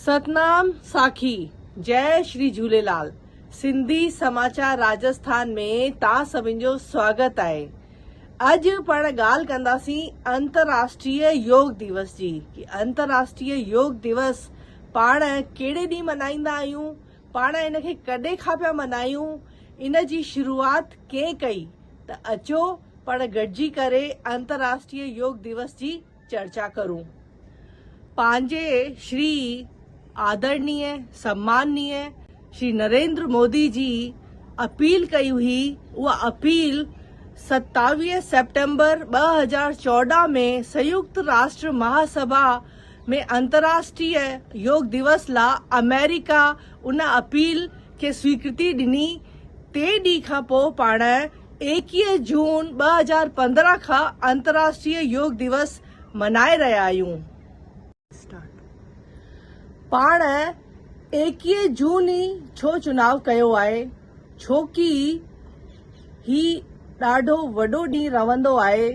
ستنام ساکي جئي شري جهوليلال سنڌي سماچار راجسٿان ۾ تا سڀن جو سواگت آهي اڄ پاڻ ڳالهه ڪنداسين انترراشٽريه يوگ ديوس جي انترراشٽريه يوگ ديوس پاڻ ڪهڙي ڏينهن ملهائيندا آهيون پاڻ ان کي ڪڏهن کان پيا منايون، ان جي شروعات ڪنهن ڪئي ته اچو پاڻ گڏجي ڪري انترراشٽريه يوگ ديوس جي چرچا ڪرون. پنهنجي شري آدرڻيه سمانيه شري نريندر مودي جي اپيل ڪئي هئي، اها اپيل ستاويهه سيپٽمبر ٻه هزار چوڏهن ۾ سيوڪت راشٽر مها سڀا، ۾ انترراشٽريء يوگ ديوس لا آمريڪا ان اپيل کي سويڪرتي ڏني، ٽي ڏينهن کان پوء پاڻ ايڪيهه جون ٻه هزار پندرهن کان انترراشٽريء يوگ ديوس ملهائي رهيا آهيون. پاڻ ايڪيهه جون ئي ڇو چوناو ڪيو آهي؟ ڇوڪي هي ڏاڍو وڏو ڏينهن رهندو آهي.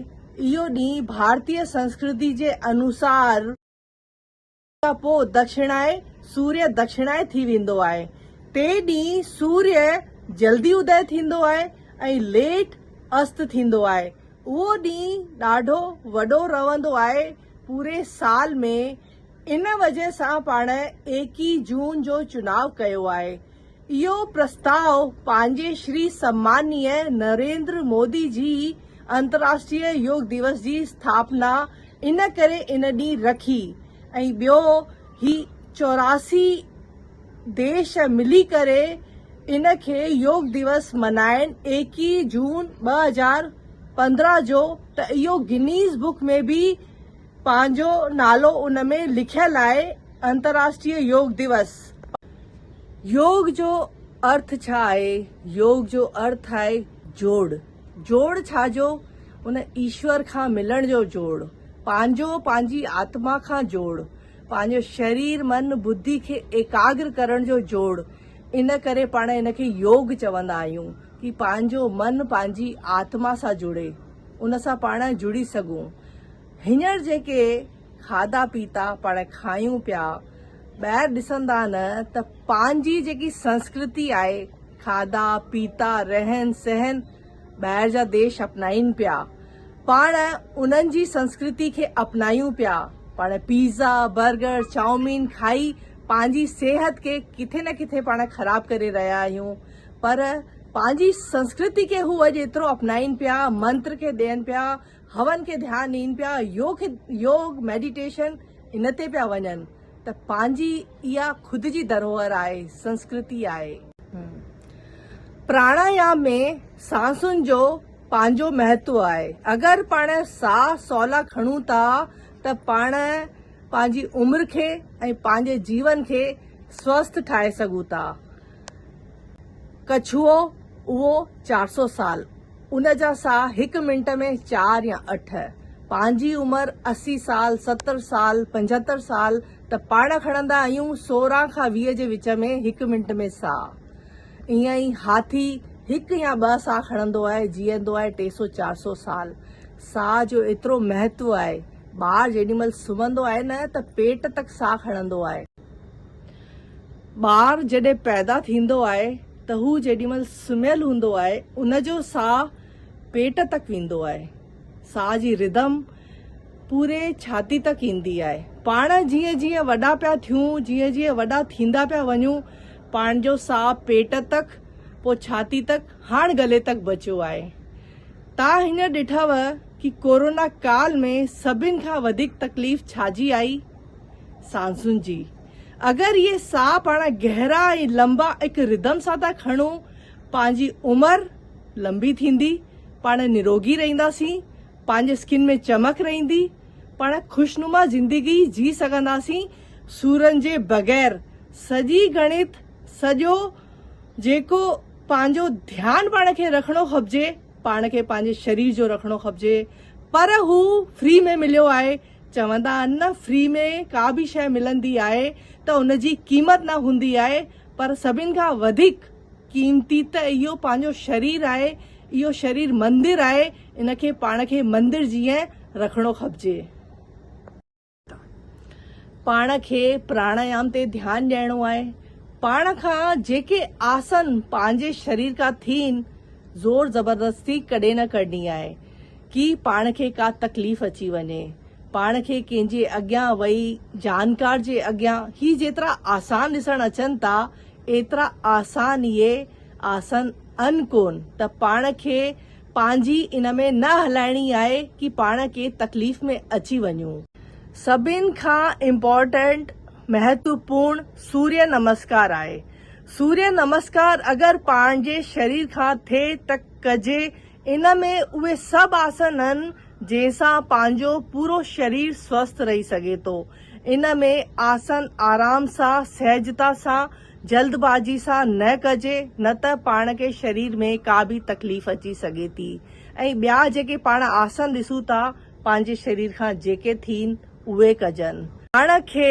اهو ڏينهن ڀارتي سنسڪرتي جي انوسار. کان پوء دکشڻائي، سوريه دکشڻائي، ٿي ويندو آهي. تي ڏينهن سوريه جلدي ادئي ٿيندو آهي ۽ ليٽ است ٿيندو آهي. اهو ڏينهن ڏاڍو وڏو رهندو آهي. پوري سال ۾. ان وجه سان پاڻ ايڪيهه جون جو چناء ڪيو آهي. اهو پرستاء پنهنجي شري سمانيه نريندر مودي جي انتراشٽريه يوگ ديوس جي اسٿاپنا ان ڪري ان ڏينهن رکي ۽ ٻيو هي چوراسي ديش ملي ڪري ان کي يوگ ديوس منائين ايڪيهه جون ٻه هزار پندرهن جو ته اهو گنيز بڪ ۾ به پنهنجو نالو ان ۾ لکيل آهي انترراشٽريه يوگ ديوس. يوگ جو ارٿ ڇا آهي؟ يوگ جو ارٿ آهي جوڙ. جوڙ ڇا جو؟ ان ايشور کان ملڻ جو جوڙ. پنهنجو پنهنجي آتما کان جوڙ. پنهنجو شرير من ٻڌي کي ايڪاگر ڪرڻ جو جوڙ. ان ڪري پاڻ ان کي يوگ چوندا آهيون. ڪي پنهنجو من پنهنجي آتما سان جڙي ان سان پاڻ جڙي سگهون هينئر جيڪي کاڌا پيتا پاڻ کايون پيا ٻاهر ڏسندا نه ته پنهنجي جيڪي سنسڪرتي آهي کاڌا پيتا رهن سهن ٻاهر جا ديش اپنائين پيا پاڻ انهن جي سنسڪرتي کي اپنايون پيا پاڻ پيزا برگر چائومين کائي پنهنجي صحت کي ڪٿي نه ڪٿي پاڻ خراب ڪري رهيا آهيون پر پنهنجي سنسڪرتي کي هو اڄ ايترو اپنائين پيا، منتر کي ڏين پيا، هون کي ڌيان ڏين پيا، يوگ يوگ ميڊيٽيشن ان تي پيا وڃن ته پنهنجي اها خود جي ڌروهر آهي، سنسڪرتي آهي. پراڻايام ۾ سانسن جو پنهنجو مهتو آهي. اگر پاڻ ساهه سولا کڻون ٿا ته پاڻ پنهنجي عمر کي ۽ پنهنجي جيون کي سوسٿ ٺاهي سگهون ٿا. ڪڇوء اهو چار سؤ سال، ان جا ساهه هڪ منٽ ۾ چار يا اٺ، پنهنجي عمر اسي سال، ستر سال، پنجهتر سال ته پاڻ کڻندا آهيون، سورهن کان ويهه جي وچ ۾ هڪ منٽ ۾ ساهه. ائين ئي هاٿي هڪ يا ٻه ساهه کڻندو آهي، جيئندو آهي ٽي سؤ چار سؤ سال. ساهه جو ايترو مهتو آهي، ٻار جيڏي مهل سمهندو آهي نه ته پيٽ تڪ ساهه کڻندو آهي. ٻار جڏهن پيدا ٿيندو آهي ته هو جيڏي مهل سمهيل هوندو آهي ان جو ساهه پيٽ تڪ ويندو آهي. ساهه جي ردم پوري ڇاتي تڪ ايندي آهي. پاڻ جيئن جيئن وڏا پيا ٿيون، جيئن جيئن وڏا ٿيندا پيا وڃون، پاڻ جو ساهه پيٽ تڪ، پوء ڇاتي تڪ، هاڻ گلي تڪ بچيو آهي. تان هينئر ڏٺئوه ڪي ڪورونا ڪال ۾ سڀن کان وڌيڪ تڪليف ڇا جي آئي؟ سانسن جي اگر اهي ساهه پاڻ گهرا ۽ لنبا اک ردم سان ٿا کڻو پنهنجي عمر لنبي ٿيندي پاڻ نروگي رهنداسين پنهنجي اسڪن ۾ چمڪ رهندي پاڻ خوشنما زندگي جي سگهنداسين سورن جي بغير سڄي گڻت سڄو جيڪو پنهنجو ڌيان پاڻ کي رکڻو کپجي پاڻ کي پنهنجي شرير جو رکڻو کپجي پر هو فري ۾ مليو آهي چوندا آهن نه فري ۾ ڪا به شيء ملندي آهي ته ان جي قيمت نه هوندي آهي پر سڀن کان وڌيڪ قيمتي ته اهو پنهنجو شرير آهي اهو شرير مندر آهي ان کي پاڻ کي مندر جيئن رکڻو کپجي. پاڻ کي پراڻايام تي ڌيان ڏيڻو آهي پاڻ کان جيڪي آسن پنهنجي شرير کان ٿين زور زبردستي ڪڏهن نه ڪرڻي آهي. ڪي پاڻ کي ڪا تڪليف اچي وڃي پاڻ کي ڪنهن جي اڳيان وئي جانڪار جي اڳيان هي جيترا آسان ڏسڻ اچن ٿا ايترا آسان اهي آسن ان ڪون ته پاڻ کي پنهنجي ان ۾ نه هلائڻي آهي ڪي پاڻ ڪي تڪليف ۾ اچي وڃون. سڀن کان امپورٽنٽ مهتوپورڻ سوريه نمسڪار آهي سوريه نمسڪار اگر پاڻ جي شرير کان ٿئي ته ڪجي ان ۾ اهي سڀ آسن هن جنهن سان پنهنجو پورو شرير سوسٿ رهي سگهي ٿو. ان ۾ آسن آرام سان سهجتا سان جلد بازي سان نه ڪجي نه ته پاڻ کي شرير ۾ ڪا به تڪليف اچي سگهي ٿي ۽ ٻيا جيڪي پاڻ آسن ڏسون ٿا پنهنجي شرير کان جيڪي ٿين اهي ڪجن. پاڻ کي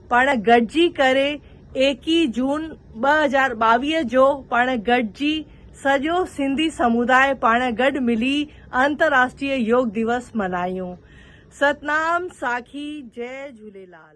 پاڻ گڏجي ڪري ايڪيهه جون ٻه هزار ٻاويهه جو پاڻ گڏجي سڄو سنڌي سموداء پاڻ گڏ ملي انتراشٽريه يوگ ديوس ملهايون. ستنام ساکي جئي جهوليلال.